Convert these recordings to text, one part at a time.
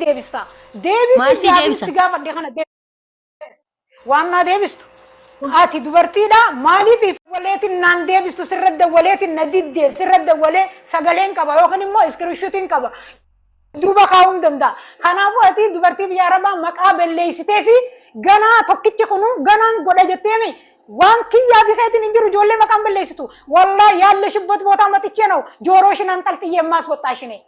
deebista. Deebisi Maal si gaafiin deebisa? si gaafadhe kana deebisi. Waan naa deebistu. Ati dubartiidha maaliif waleetiin naan deebistu sirra dawwaleetiin na diddee sirra dawwalee sagaleen qaba yookiin immoo iskiriishuutiin qaba. Duuba kaa'uun danda'a. Kanaafuu ati dubartii biyya arabaa maqaa balleessiteesi ganaa tokkichi kunu ganaan godha jetteemi. Waan kiyyaa fi keetiin hin jiru ijoollee maqaan balleessitu. Wallaa yaalle shibbot bootaa maxichee na'u jooroo shinaan xalxiyyee maas boxxaa shinee.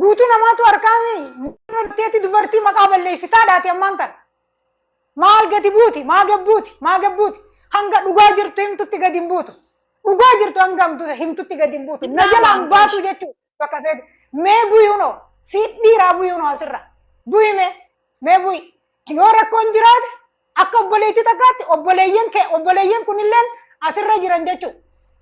Guutuu namaatu harkaami murteetti dubartii maqaa balleessitaadhaati ammaan tana. Maal gadi buuti? Maa gabbuuti? Maa gabbuuti? Hanga dhugaa jirtu himtutti gadi hin buutu. Dhugaa jirtu hanga hamtu- himtutti gadi hin buutu. Na jalaa hin baatu jechuudha. Bakka feetu. Mee buyuunoo si dhiiraa buyuunoo asirra. Buyi mee. Mee buyi. Yoo rakkoon jiraate Akka obboleettii takkaatti obboleeyyan kee obboleeyyan kunilleen asirra jiran jechuudha.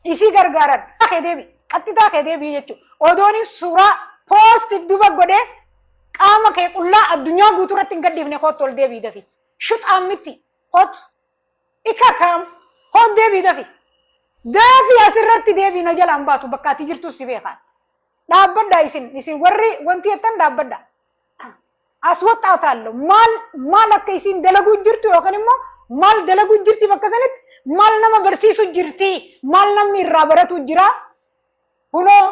Isii gargaaran kee deebi qaxxitaa kee deebi jechuudha. Odoonis suuraa poostiif duba godhee qaama kee qullaa addunyaa guutuu irratti hin gadhiifne kootu ol deebii dafi. Shuxaan miti kootu ika kaam kootu deebii dafi. Daafi asirratti deebii na jalaan baatu bakka ati jirtus si beekaan. Dhaabbadha isin isin warri wanti jettan dhaabbadha. aswaxxaataallo maal maal akka isiin dalaguu jirtu yookaan immoo maal dalaguu jirti bakka sanitti maal nama barsiisu jirti maal namni irraa baratu jira kunoo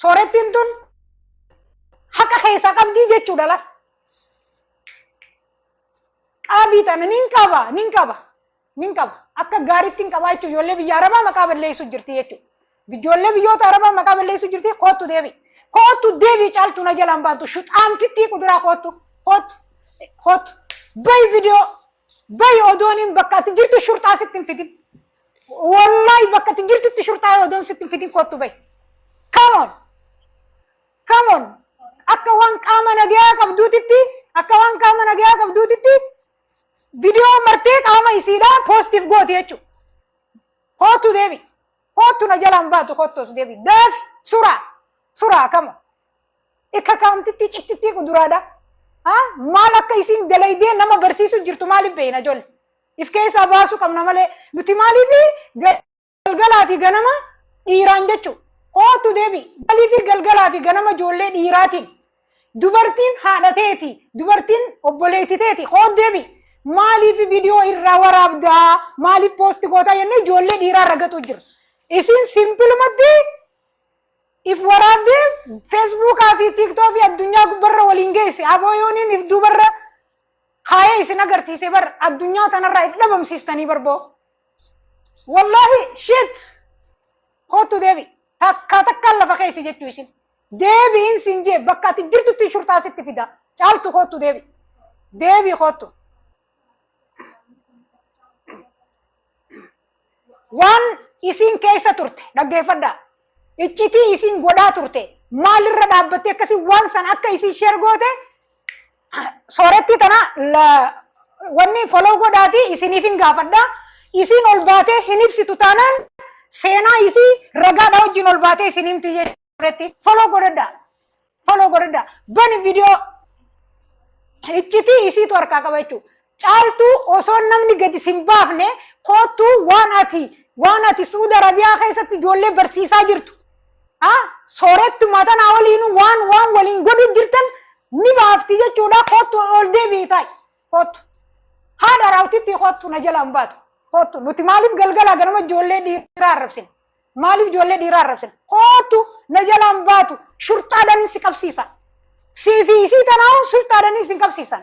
soorettiin tun haqa keessaa qabdii jechuudha la qaabii tana nin qaba nin qaba nin qaba. Akka gaariitti hin qabaa jechuun ijoollee biyya Arabaa maqaa balleessuu jirti jechuudha. Ijoollee biyyoota Arabaa maqaa balleessuu jirti koottu deebi. Koottu deebi caaltu na jalaan baantu shuxaantittii kuduraa koottu koottu koottu bayi viidiyoo bayi odooniin bakka ati jirtu shurxaa sitti hin fidin. Wallaahi bakka ati jirtutti shurxaa odoon sitti hin fidin koottu bayi. Come on! Come on! Akka waan qaama nagayaa qabduutitti akka waan qaama nagayaa qabduutitti viidiyoo martee qaama isiidhaa poostiif gooti jechuudha. Kootu deebi. Kootu na jalaan baatu kottoos deebi. Daafi suraa suraa kama. Ikka kaamtittii cittittii kuduraadha. Haa maal akka isiin dalaydee nama barsiisuu jirtu maaliif beeyna ijoollee. If keessaa baasuu qabna malee nuti maaliif galgalaa fi ganama dhiiraan jechuudha. Kootu deebi galii fi galgalaa fi ganama ijoollee dhiiraatiin. Dubartiin haadha teeti, dubartiin obboleetti teeti, kootu deebi. Maaliif viidiyoo irraa waraabdaa? Maaliif poosti gootaa jennee ijoollee dhiiraa ragatuu jira. Isin simpilumatti if waraabdee feesbuukaa fi tiiktookii addunyaa gubbarra waliin geesse. Aboo yooniin if duubarra kaayee isin agarsiise bar addunyaa tanarraa if dhabamsiistanii barboo. Wallaahi shit kootu deebi takkaa takkaan lafa keessi jechuu isin deebiin sin jee bakka ati jirtutti shurxaa sitti fida caaltu kootu deebi deebi kootu waan isin keessa turte dhaggeeffadha iccitii isin godhaa turte maalirra dhaabbattee akkasii waan san akka isin sheer goote soorettii tana wanni foloo godhaati isiniif hin gaafadha. Isiin ol baatee hin ibsitu taanaan seenaa isii ragaadha wajjin ol baatee isin himti jechuuretti foloo godhadha. Foloo godhadha. Bani viidiyoo iccitii isiitu harkaa qaba jechuudha. Caaltuu osoo namni gadi sin baafne koottu waan ati waan ati Su'uud Arabiyaa keessatti ijoollee barsiisaa jirtu a soorettuma tanaa waliinu waan waan waliin godhu jirtan ni baafti jechuudha koottu ol deebi'i taa'i koottu haadha raawwitittii koottu na jala hin baatu koottu nuti maaliif galgalaa ganama ijoollee dhiiraa arrabsina maaliif ijoollee dhiiraa arrabsina koottu na jala hin baatu shurxaadhaan si qabsiisa siifii isii tanaa shurxaadhaan isin qabsiisan.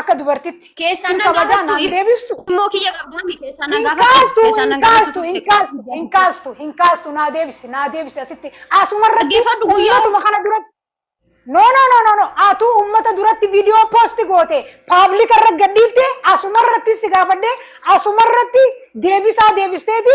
Akka dubartitti. Keessaa Sin na kabajaa gaafattu naan deebistu. immoo kiyya qabdaa mi keessaa na Hin gaafattu kaastu, keessaa na hin gaafattu kaastu, hin kaastu, hin kaastu, hin kaastu, naa deebisi, naa deebisi asitti. Asuma irratti Dhaggeeffadhu guyyaa. ummatuma kana duratti. No, no, no, no, no. Atuu ummata duratti viidiyoo poosti goote, paablika irra gadhiifte, asuma irratti si gaafadhe, asuma irratti deebisaa deebisteeti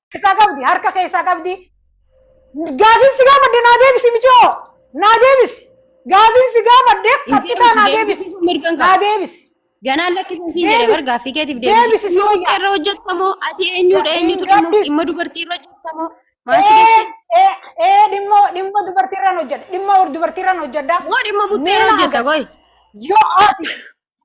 isaa qabdi harka kee isaa qabdi gaafiin si gaafadde naa deebisi michoo naa deebisi gaafiin si gaafadde qaxxitaa naa deebisi naa deebisi Ganaan lakkisa siin jedhe bar gaaffii keetiif deebisi. Deebisi si Muka irra hojjetamoo ati eenyudha eenyutu dhimma dhimma dubartii irra hojjetamoo maal si geesse? ee dhimma dhimma dubartiirraan hojjedha dhimma dubartiirraan hojjedha Moo dhimma buttee irra hojjeta goy. yoo ati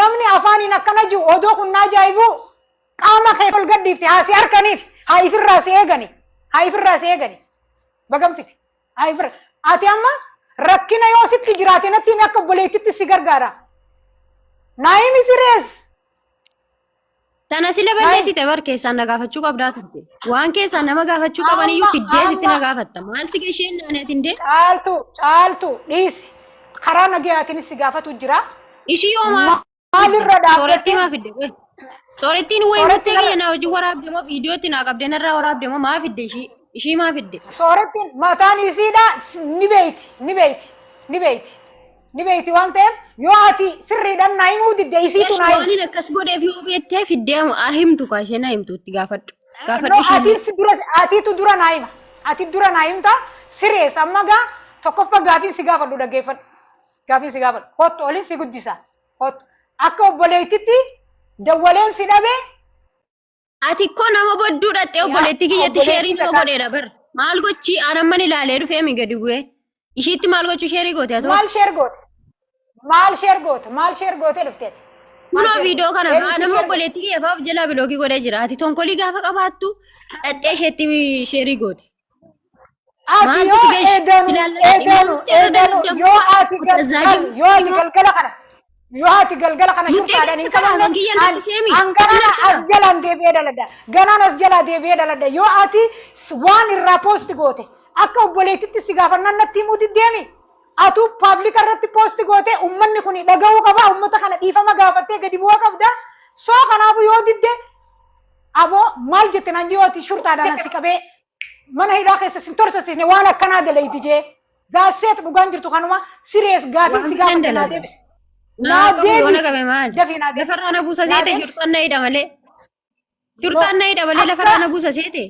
Namni afaaniin akkana jiru odoo kun naa jaa'ibuu qaama kee ol gadhiifte haa si harkaniif haa ifirraa si eegani haa ifirraa si eegani bagamfite haa ifirra ati amma rakkina yoo sitti jiraate natti himi akka obboleettitti si gargaara naa himi sirees Sana sila balleessite bar keessaan na gaafachuu qabdaa turte. Waan keessaan nama gaafachuu qaban iyyuu Amma- fiddee sitti na amma- gaafatta. Maal si gasheen naanee tindee? Caaltu caaltu dhiisi. Karaa nagayaatiin si gaafatu jira. Ishii yoo Ma- maal Maalirra soorattii dhaabbattee maa fidde? Qoy. Soorattiin wayi Soorattiin guuttee ala- kiyya na hojii waraabde moo viidiyootti naa qabdee narraa waraabde moo maa fidde ishii? Ishii maa fidde? Soorettiin mataan isiidha ni beeyti ni beeyti ni beeyti ni beeyti waan ta'eef yoo ati sirriidhaan naa himuu didde isiitu Eesh naa hima. waanin akkas godheef yoo beettee fiddee haa himtu kaa isheen haa himtu itti gaafadhu. No Gaafadhu isheen. ati si dura atiitu dura naa hima. Ati dura naa himta sirees amma gaa tokkoffaa gaafiin si gaafadhu dhaggeeffadhu. Gaafiin si gaafadhu kottu olin si guddisa kottu akka obboleettitti dawwaleen si dhabe Ati koo nama bodduu dhaxxee obboleettii kiyyatti sheerii nama godheera bar. Maal gochi aanamman ilaalee dhufee mi gadi bu'ee. Ishiitti maal gochuu sheerii goote atoo? Maal sheer goote? Maal sheer goote? Maal sheer gootee dhufte? Kunoo viidiyoo kana fa'aa nama obboleettii kiyya fa'aa of jalaa bilookii godhee jira. Ati tonkolii gaafa qabaattu dhaxxee isheetti sheerii goote. Ati Maaltu yoo si geessu? eedanu Ilaallatee eedanu dhimmoota irra eedanu dadhabdee yoo ati gal- Abdulrazaaqin gal- yoo ati immoo- galgala kana yoo ati galgala kana Murtee shukkaadhaan hin kana qabanne hangiyya an lakkisee miti. an ganana Ilaalcha as kana. jalaan deebi'ee dhaladha ganaan as jalaa deebi'ee dhaladha yoo ati s- waan irraa poosti goote akka obboleettitti si gaafannaan natti himuu diddeemi atuu paablika irratti poosti goote ummanni kun dhaga'uu qaba ummata kana dhiifama gaafattee gadi bu'aa qabda soo kanaafu yoo didde Aboo maal jette naan jee waati shurxaadhaan asi qabee mana hidhaa keessa sin torsasiisne waan akkanaa dalayti jee gaasseet dhugaan jirtu kanuma sirees gaafin Waan si fedhan gaafadhe naa dalaga. deebisi. Naa qabu yoo na qabe maali? Dafii naa deebisi. Lafarraa na buusa Naa seete deebisi. shurxaan na hidha malee. Shurxaan na hidha malee Akka- lafarraa na buusa seete.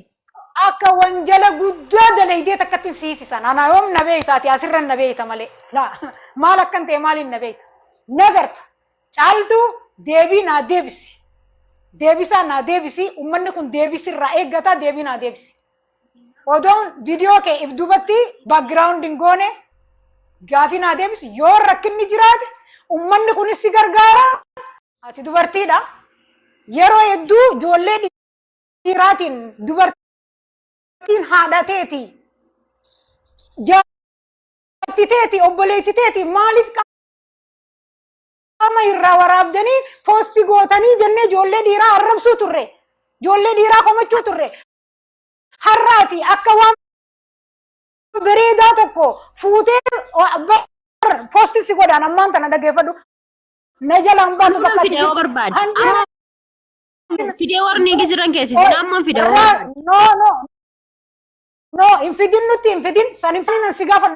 Akka wanjala guddaa dalaydee takkatti si hiisisa. Naanaa yoom na beeytaati asirran na beeyta malee. Laa maal akkan ta'e maaliin na beeyta. Na garta. Caaltuu deebii naa deebisi. Deebisaa naa deebisi. Ummanni kun deebii sirraa eeggata deebii naa deebisi. Odoon viidiyoo kee if duubatti background hin goone gaafii naa deebisi. Yoo rakkinni jiraate ummanni kunis si gargaara. Ati dubartiidha. Yeroo hedduu ijoollee dhiiraatiin dubartiin haadha teeti. Jaartii teeti obboleetti teeti maaliif Qaama irraa waraabdanii poosti gootanii jennee ijoollee dhiiraa arrabsuu turre. Ijoollee dhiiraa komachuu turre. Har'aati akka waan bareedaa tokko fuutee poosti si godhaan ammaan tana dhageeffadhu. Na jalaan baatu Anuma bakka fidee yoo barbaade. Kan Amma fidee warni gisiran keessisina amma fidee yoo Irraa- barbaade. No, no. No, hin fidin nutti hin fidin. San hin fidin si gaafa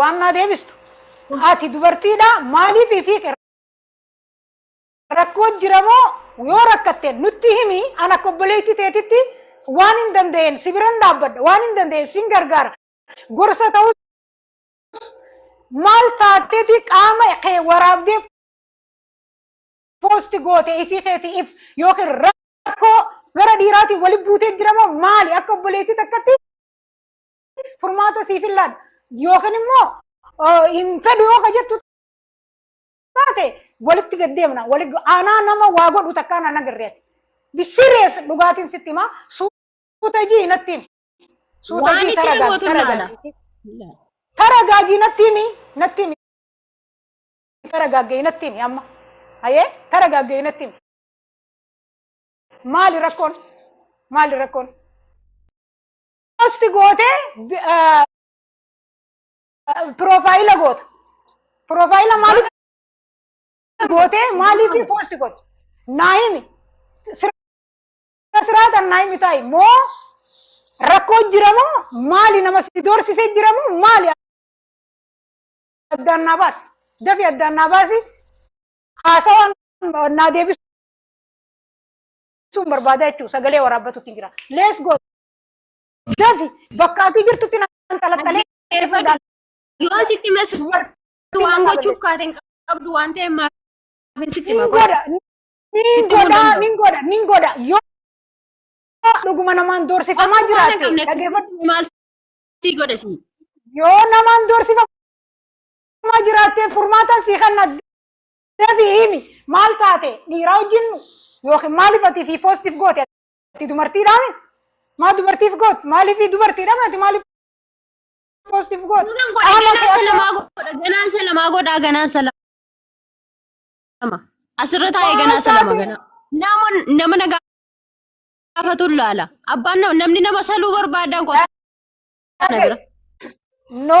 waan naa deebistu ati dubartiidha maaliif ifii qe- rakkoo jira moo yoo rakkatte nutti himi an akka obboleetti teetitti waan hin danda'een si biran dhaabbadha waan hin danda'een sin gargaara gorsa ta'uu maal taateeti qaama kee waraabdee poosti goote ifii keeti if yookiin rakkoo gara dhiiraatiin wali buutee jira moo maali akka obboleetti takkatti furmaata siif hin laadha. Yookiin immoo hin fedhu yoo ka jettu taate walitti gad deemna. Aanaa nama waa godhu takkaa na nagarreeti. Bisirees dhugaatiin sitti himaa suuta ijii natti himi. Suuta Waan ijii itti tara gootu gaagi tara gaagi. Tara gaagi natti himi natti himi. Tara gaagi natti himi amma. Hayee tara gaagi natti himi. Maali rakkoon? Maali rakkoon? post goote piroofaayila goota. Piroofaayila maaliif goote maaliif post goote? Naa himi. Sira siraatan naa himi taa'i moo rakkoo jira moo maali nama si doorsisee jira moo maali addaan naa baasi. Dafi addaan naa baasi. Haasawaan naa deebisuun barbaada jechuudha. Sagalee waraabbatuutti jira. Let's go. Dafi bakka ati jirtutti na xalaxalee eeguudhaan Yoo sitti mas dubartii waan na gochuuf balleessu. kaate hin qabdu waan ta'eef maaf hin sitti Nin maqaa. godha. Nin Sitti godha. mul'atu. Nin godha. Nin godha. Yoo dhuguma namaan doorsifamaa Waan jiraate qabne dhaggeeffadhu. keessatti maal sii godha sii? Yoo namaan doorsifamaa jiraatte furmaatan sii kenna. Dafi himi. Maal taate? Dhiiraa wajjin yookiin maaliif ati fi poositiif goote? Ati dubartiidhaa mee? Maa dubartiif goot? Maaliif dubartiidhaa mee? Ati maaliif poostiif goot? Kunan godha Qaama ganaan kee salamaa godha ganaan salamaa godha ganaan salama. Asirra taa'ee ganaa salama ganaa. Nama nama na gaafatu laala. Abbaan nam- namni nama saluu barbaadan qofa. na bira. No.